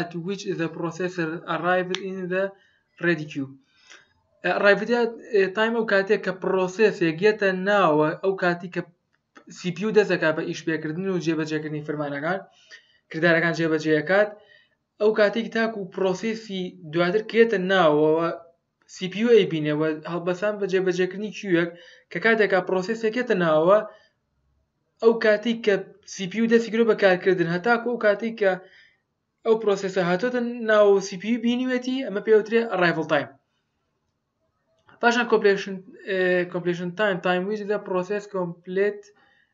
at which the processor arrived in the ready queue arrived at time ئەو کاتێک کە پرۆسێسێک یەتە ناوە ئەو کاتی کە CPU دەستەکە بە ئیش پێکردن و جێبەجێکردنی فرمانەکان کردارەکان جێبەجێکات ئەو کاتێک تاکو پرۆسیسی دواتر کێتە ناوەوە سی پی یو ئەیبینێ و هەڵبەسان بە جێبەجێکردنی کیوێک کە کاتێکا پرۆسێسێک یەتە ناوەوە ئەو کاتی کە سی پی یو دەستی گرۆ بە کارکردن هەتاکو ئەو کاتی کە ئەو پرۆسێسە هاتۆتە ناو سی پی یو بینیوێتی ئەمە پێوترێ ئەڕایڤڵ تایم پاشان کۆپلێشن کۆپلێشن تایم تایم ویز دە پرۆسێس کۆمپلێت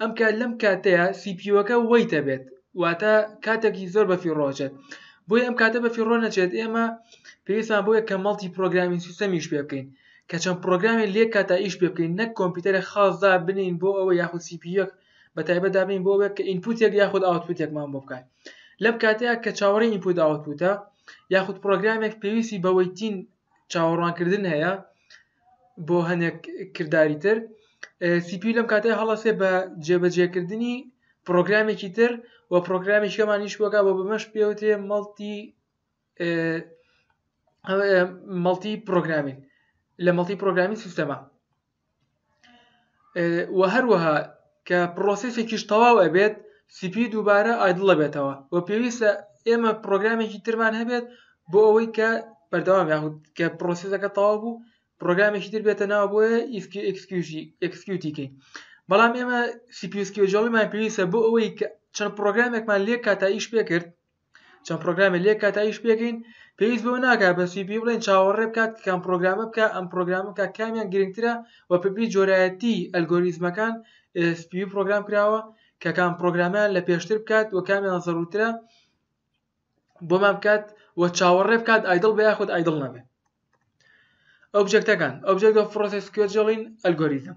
ئەم کات لەم کاتەیا سی پی یوەکە وەیت ئەبێت واتە کاتێکی زۆر بەفیڕۆ ئەچێت بۆی ئەم کاتە بەفیڕۆ نەچێت ئێمە پێویستمان بۆیە کە مەڵتی پرۆگرامی سیستەمیش پێ بکەین کە چەند پرۆگرامی لێک کاتا ئیش پێ بکەین نەک کۆمپیوتەرە خاصدا بنین بۆ ئەوە یاخود سی پی یوەک بە تایبەت دابنین بۆ ئەوێک کە ئینپوتێک یاخود ئاوتپوتێکمان بۆ بکات لەم کاتەیە کە چاوەڕێی ئینپوت ئاوتپوتە یاخود پرۆگرامێک پێویستی بە وەیتین چاوەڕوانکردن هەیە بۆ هەنێک کرداری تر سی پی لەم کاتێ هەڵەسێ بە جێبەجێکردنی پرۆگرامێکی تر و پرۆگرامی شەمانیش بۆگا بۆ بەمەش پێوتێ مەڵتی مەڵتی پرۆگرامین لە مەڵتی پرۆگرامی سیستەما و هەروەها کە پڕۆسێسێکیش تەواو ئەبێت سی پی دووبارە ئایدڵ ئەبێتەوە و پێویستە ئێمە پرۆگرامێکی ترمان هەبێت بۆ ئەوەی کە بەردەوام یاخود کە پرۆسیسەکە تەواو بوو پرۆگرامێکی تر بێتە ناو بۆیە ئیسکی ئەکسکیوژی ئەکسکیوتیکەی بەڵام ئێمە سیپیسکیۆژۆڵیمان پێویستە بۆ ئەوەی کە چەند پرۆگرامێکمان لێ کاتا ئیش پێ کرد چەند پرۆگرامێ لێ کات تا ئیش پێکەین پێویست بەوە ناکات بەس پێی بڵێن چاوەڕێ بکات کە کام پرۆگرامە بکا ئەم پرۆگرامە بکا کامیان گرنگترە و پپی جۆرایەتی ئەلگۆریزمەکان سپی پرۆگرام کراوە کە کام پرۆگرامیان لە پێشتر بکات و کامیان زەڕوترە بۆمان بکات و چاوەڕێ بکات ئایدڵ بە یاخود ئایدڵ نەبێت ئۆبجێکتەکان ئۆبجێکت و پرۆسس کوێجڵین ئەلگۆریزم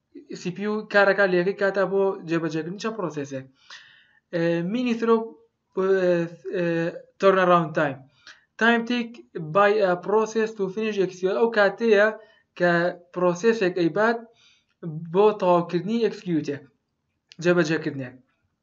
CPU کارەکە لە یەکەی کاتا بۆ جێبەجێکردن چە پرۆسێسێک مینی ترۆ تۆرنەراون تایم تایم تیک بای پرۆسێس و فنیش ئەکسیۆن ئەو کاتەیە کە پرۆسێسێک ئەیبات بۆ تەواوکردنی ئەکسکیوتێک جێبەجێکردنێک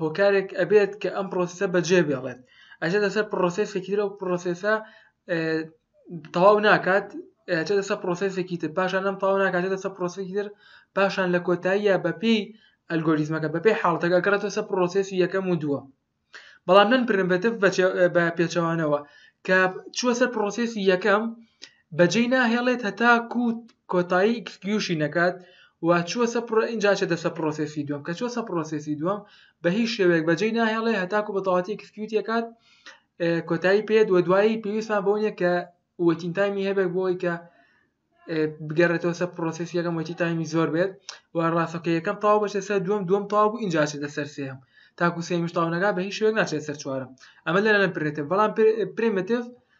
هۆکارێک ئەبێت کە ئەم پرۆسیسە بەجێ بێڵێت ئەجێتە سەر پرۆسێسێکی ترە و پرۆسێسە تەواو ناکات ئەجێ دەسە پرۆسێسێکی تر پاشان ئەم تەواو ناکات دەسە پرۆسێکی تر پاشان لە کۆتاییە بەپی ئەلگۆریزمەکە بەپی حاڵتەکە گەڕێتە سەر پرۆسێسی یەکەم و دووە بەڵام نەن پرمبێتف بە پێچەوانەوە کە چووە سەر پرۆسێسی یەکەم بەجێی ناهێڵێت هەتاکو کۆتایی ئیکسکیوشی نەکات و چووە سە پڕۆ ئینجا ئەچێتە سە پڕۆسێسی دووەم کە چووە سە پڕۆسێسی دووەم بە هیچ شێوەیەک بەجێی ناهێڵێ هەتاکو بە تەواتی ئیکسکیوتی ئەکات کۆتایی پێت و دوایی پێویستمان بەو نیە کە وەتین تایمی هەبێت بۆی کە بگەڕێتەوە سە پرۆسیسی یەکەم وەتی تایمی زۆر بێت و ڕاستەکە یەکەم تاو بەشێ سەر دوم دوم تاو بوو اینجا چێتە سەر سێم تاکو سێمیش تاونەکە بە هیچ شوێک ناچێت سەر چوارم ئەمە لەرە نەپرێتە بەڵام پرمتف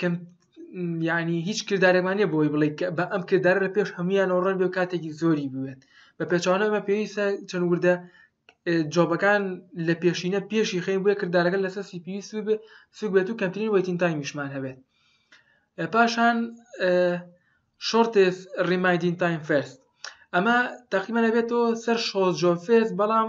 کەم یعنی هیچ کردارێکمان نیە بۆی بڵێ بە ئەم کردارە لە پێش هەمویانەوە ڕەن بێ کاتێکی زۆری بوێت بە پێچوانە ئەمە پێویستە چەند وردە جۆبەکان لە پێشینە پێشی خەین بۆیە کردارەکە لەسەر سی پێویست بێ سوک بێت و کەمترین وەتین تایمیشمان هەبێت پاشان شۆرتێس ڕیمایدین تایم فەرست ئەمە تەقیمە لەبێتەوە سەر شۆ جۆفێس بەڵام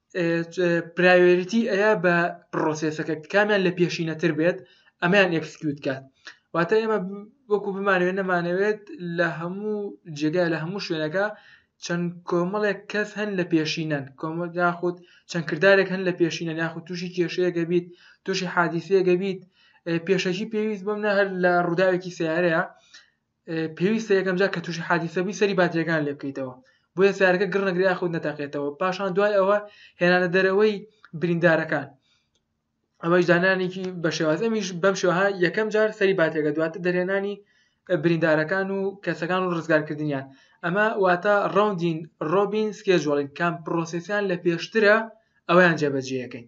پرایۆریتی ئەیا بە پرۆسێسەکە کامیان لە پێشینەتر بێت ئەمیان ئەکسکیوت کات واتە ئێمە وەکو بمانوێت نەمانەوێت لە هەموو جێگای لە هەموو شوێنەکە چەند کۆمەڵێک کەس هەن لە پێشینەن کۆمە یاخود چەند کردارێک هەن لە پێشینە یاخود تووشی کێشەیەگە بیت تووشی حادیسەیەگە بیت پێشەکی پێویست بم نە هەر لە ڕووداوێکی سیارەیە پێویستە یەکەم جار کە تووشی حادیسە بووی سەری باتریەکان لێ بکەیتەوە بۆیە سیارەکە گڕ نەگرێ یاخود نەتەقێتەوە پاشان دوای ئەوە هێنانە دەرەوەی بریندارەکان ئەوەش دانانێکی بە شێواز ئەمیش بەم شێوەها یەکەم جار سەری باتێکە دواتر دەرێنانی بریندارەکان و کەسەکان و ڕزگارکردنیان ئەمە واتە ڕوندین ڕۆبین سکێجوڵین کام پرۆسسیان لە پێشترە ئەویان جێبەجێەکەین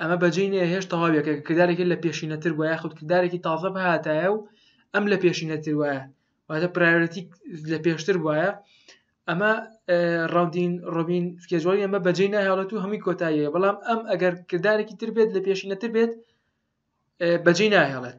ئەمە بەجێی نیە هێشت تەواویەکە کردارێکی لە پێشینەتر وە یاخود کردارێکی تازە بهاتایە و ئەم لە پێشینەتر وایە واتە پرایۆرەتی لە پێشتر وایە ئەمە ڕاودین ڕۆبین سکێجۆڵی ئەمە بەجێ ناهێڵێت و هەمووی کۆتاییە بەڵام ئەم ئەگەر کردارێکی تر بێت لە پێشینەتر بێت بەجێ ناهێڵێت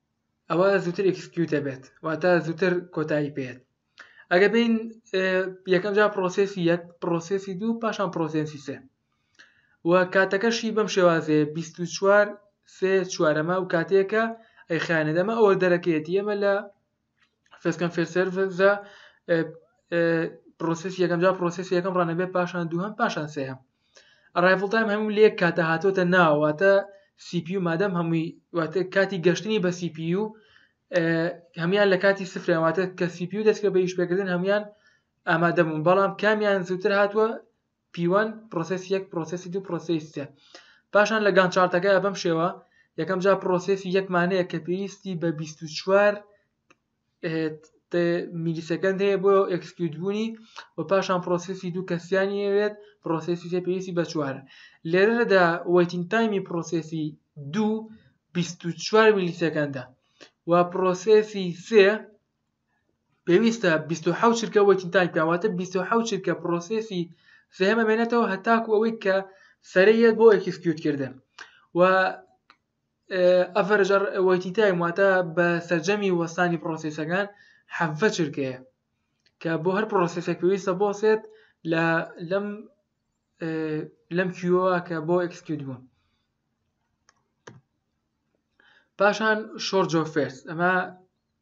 ئەوا زووتر ئکسکیوت دەبێت واتە زووتر کۆتایی پێێت ئەگە بین یەکەم جا پرۆسسی یەک پرۆسسی دوو پاشان پرۆسسی سێ و کاتەکەشی بەم شێوازێ 24 سێ چوارەمە و کاتێکە ئەیخانێت ئەمە ئەوە دەرەکەیەتی ئەمە لە فێسکەن فێرسەرزە پرۆسس یەکەم جا پرۆسس یەکەم ڕانەبێ پاشان دووهم پاشان سێهم ڕایڤڵ تایم هەموو لێک کاتە هاتۆتە ناواتە سیپی و مادەم هەمووی واتە کاتی گەشتنی بە سیپی و هەمان لە کاتی سفرەواتە کە سیپی و دەستکە بە یش پێکردن هەمان ئامادەبوون بەڵام کامیان زووتر هاتووە P1 پرۆسێسی یەک پرۆسێسی دوو پرۆسێی سێ پاشان لە گان چارتەکەیا بەم شێوە یەکەم جا پرۆسێسی یەک مانەیە کە پێویستی بە 24 میلیسەکەند هەیە بۆ ئەکسکیوت بوونی و پاشان پرۆسیسی دوو کەسیانی ئەوێت پرۆسیسی تێ پێویستی بە چوار لێرەدا وەیتین تایمی پرۆسیسی دوو 24 میلیسەکەندە و پرۆسیسی سێ پێویستە بیست و حەوت چرکە وەیتین تایم بکات واتە بیست و حەوت چرکە پرۆسێسی سێهەم ئەمێنێتەوە هەتاکو ئەوەی کە سەرێ یەت بۆ ئێکسکیوت کردن و ئەفەرجەر وەیتی تایم واتە بە سەرجەمی وەستانی پرۆسێسەکان حەڤە چرکەیە کە بۆ هەر پرۆسێسێک پێویستە بۆسێت لە لەم لەم کیوەوە کە بۆ ئەکسکیوت بوون پاشان شۆر جۆفێرس ئەمە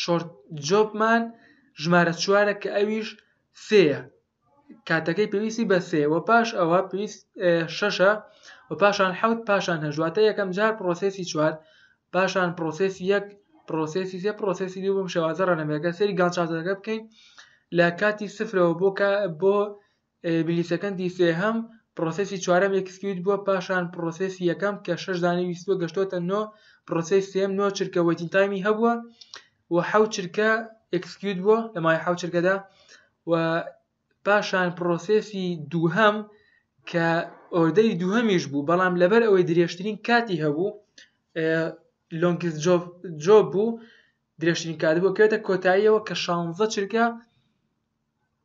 شۆرت جۆبمان ژمارە چوارە کە ئەویش سێیە کاتەکەی پێویستی بە سێ وە پاش ئەوە پێویست شەشە و پاشان حوت پاشان هەژواتە یەکەم جار پرۆسسی چوار پاشان پرۆسسی یەک پرۆسسی سێ پرۆسسی دوو بم شێوازە ڕەنەمەکە سری گانچاتەکە بکەین لە کاتی سفرەوە بۆ بۆ بلیتەکەندی سێهەم، پرۆسێسی چوارەم ئێکس کیوت بووە پاشان پرۆسێسی یەکەم کە شەش دانەی ویستووە گەشتۆتە نۆ، پرۆسێسی سێیەم نۆ چرکە وەیتین تایمی هەبووە و حەوت چرکە ئێکس کیوت بووە لە مای حەوت چرکەدا و پاشان پرۆسێسی دووهەم کە ئۆردەری دووهەمیش بوو بەڵام لەبەر ئەوەی درێژترین کاتی هەبوو لۆنگز جۆ بوو درێژترین کات بوو کێتە کۆتاییەوە کە شانزە چرکە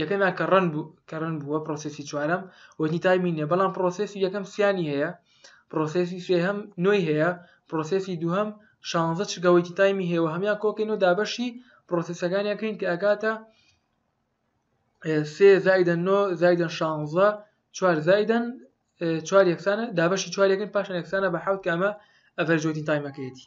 یەکەمیان کە ڕەن بوو کە ڕەن بووە پرۆسسی چوارەم وەنی تایمی نیە بەڵام پرۆسسی یەکەم سیانی هەیە پرۆسسی سێهەم نوێی هەیە پرۆسسی دووهەم شانزە چگەوەیتی تایمی هەیەوە هەمان کۆکەین و دابەشی پرۆسسەکانیان کرین کە ئەکاتە سێ زایدەن نۆ زایدەن شانزە چوار زایدەن چوار یەکسانە دابەشی چوارەکەن پاشان یەکسانە بە حوت کامە ئەڤەرجۆتی تایمەکەیەتی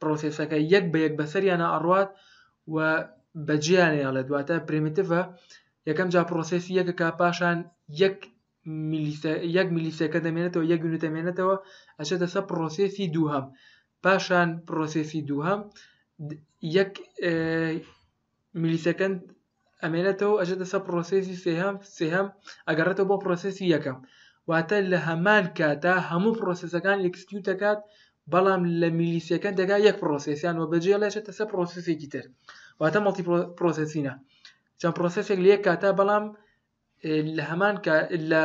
پرۆسێسەکە یەک بە یەک بەسەریانا ئەڕوات و بەجێیانێ ئەڵێت واتە پرێمیتڤە یەکەم جا پرۆسێسی یەکەکە پاشان یەک یەک میلیسەکە دەمێنێتەوە یەک یونت دەمێنێتەوە ئەچێتە سەر پرۆسێسی دووهەم پاشان پرۆسێسی دووهەم یەک ملی سەکەند ئەمێنێتەوە ئەژێتە سەر پرۆسێسی سێهەم سێهەم ئەگەڕێتەوە بۆ پرۆسێسی یەکەم واتە لە هەمان کاتا هەموو پرۆسسەکان ئەکسکیوت دەکات بەڵام لە میلیسیەکەن دەگا یەک پرۆسسیان وە بەجێ لێشێتە سەر پرۆسسێکی تر واتە مەڵتی پرۆسسینە چەند پرۆسسێک لە یەک کاتا بەڵام لە هەمان لە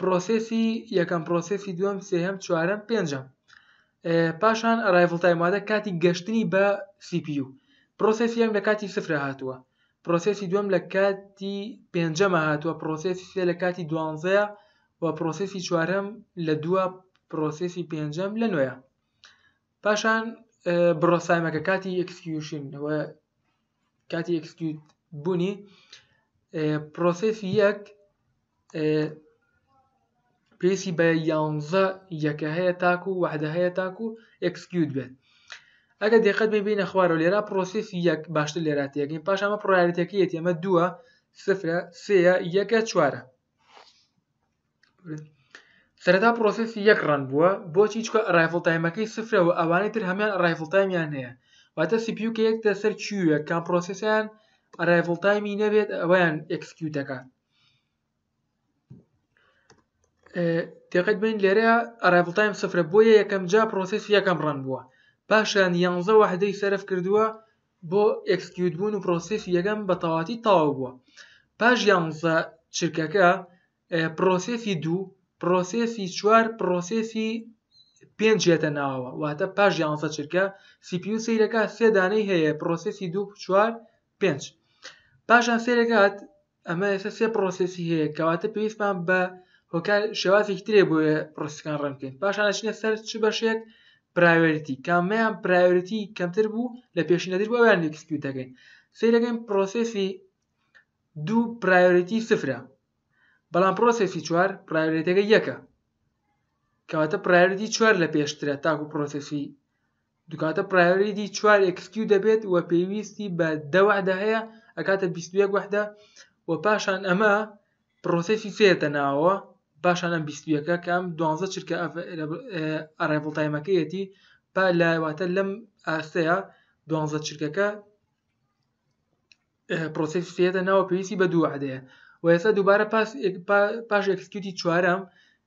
پرۆسێسی یەکەم پرۆسێسی دووەم سێهەم چوارەم پێنجەم پاشان ئەرایڤڵ تایم وادە کاتی گەشتنی بە CPU پرۆسێسی یەم لە کاتی سفرە هاتووە پرۆسێسی دووەم لە کاتی پێنجەمە هاتووە پرۆسێسی سێ لە کاتی دوانزەیە و پرۆسێسی چوارەم لە دووە پرۆسێسی پێنجەم لە نوێە پاشان بڕۆسایمەکە کاتی ئەکسکیوشن و کاتی ئەکسکیوت بوونی پرۆسس یەک پێسی بە یانزە یەکە هەیە تاکو و وەحدە هەیە تاکو و ئەکسکیوت بێت ئەگە دقت بێ بینە خوارەوە لێرا پرۆسس یەک باشتر لێرا تێگەین پاش ئەمە پرۆیارەتەکەیەتی ئەمە دووە سفرە سێە یەکە چوارە سەرەتا پرۆسێسی یەک ڕەن بووە بۆچی چکە ئەڕایڤڵ تایمەکەی سفرە و ئەوانەی تر هەمان ئەڕایڤڵ تایمیان هەیە واتە سی پیو کە یەک دە سەر کیوێک کام پرۆسێسیان ئەڕایڤڵ تایمی نەبێت ئەویان ئەکسکیو دەکات تێقەت بین لێرە ئەڕایڤڵ تایم سفرە بۆیە یەکەم جا پرۆسێسی یەکەم ڕەن بووە پاشان یانزە وحدەی سەرف کردووە بۆ ئێکسکیوت بوون و پرۆسێسی یەکەم بە تەواتی تەواو بووە پاش یانزە چرکەکە پرۆسێسی دوو پرۆسێسی چوار پرۆسێسی پێنج هێتە ناوەوە واتە پاش یانزە چرکە سیپی و سیرەکە سێدانەی هەیە پرۆسێسی دوو چوار پێنج پاشان سێرەکات ئەمە ئێستا سێ پرۆسێسی هەیە کەواتە پێویستمان بە هۆکار شێوازێکی ترێ بۆ پرۆسەکان ڕێن بکەین پاشان ئەچینە سەر چ بەشێک پرایۆریتی کامیان پرایۆریتی کەمتر بوو لە پێشینەدر بۆ یان ئەکسپیوت دەکەین سیرەکەین پرۆسێسی دوو پرایۆریتی سفرە بەڵام پرۆسێسی چوار پرایۆریتەکە یەکە کەواتە پرایۆریتی چوار لە پێشترە تاکو پرۆسێسی دوکاتە پرایۆریتی چوار ئێکسکیو دەبێت و پێویستی بە دە وەحدە هەیە ئەکاتە بیست و یەک وەحدە و پاشان ئەمە پرۆسێسی سێر دەناوەوە پاشان ئەم بیست و یەکە کە ئەم دوانزە چرکە ئەرێڤڵ تایمەکەیەتی پا لە واتە لەم ئاستەیە دوانزە چرکەکە پرۆسێسی سێر دەناوە پێویستی بە دوو وەحدەیە و ئێستا دووبارە پاس پاش ئێکسکیوتی چوارەم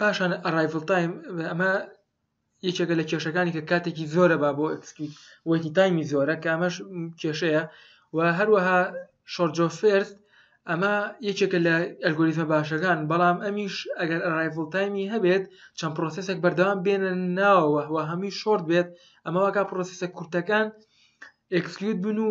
پاشان ئەرایڤڵ تایم ئەمە یەکێکە لە کێشەکانی کە کاتێکی زۆرە با بۆ ئەکسکیوت وەیتی تایمی زۆرە کە ئەمەش کێشەیە و هەروەها شۆرجۆفێرت ئەمە یەکێکە لە ئەلگۆریزمە باشەکان بەڵام ئەمیش ئەگەر ئەرایڤڵ تایمی هەبێت چەند پرۆسسێک بەردەوام بێنە ناوەوە هەمی شۆرت بێت ئەمەواکە پرۆسسە کورتەکان ئەکسکیوت بن و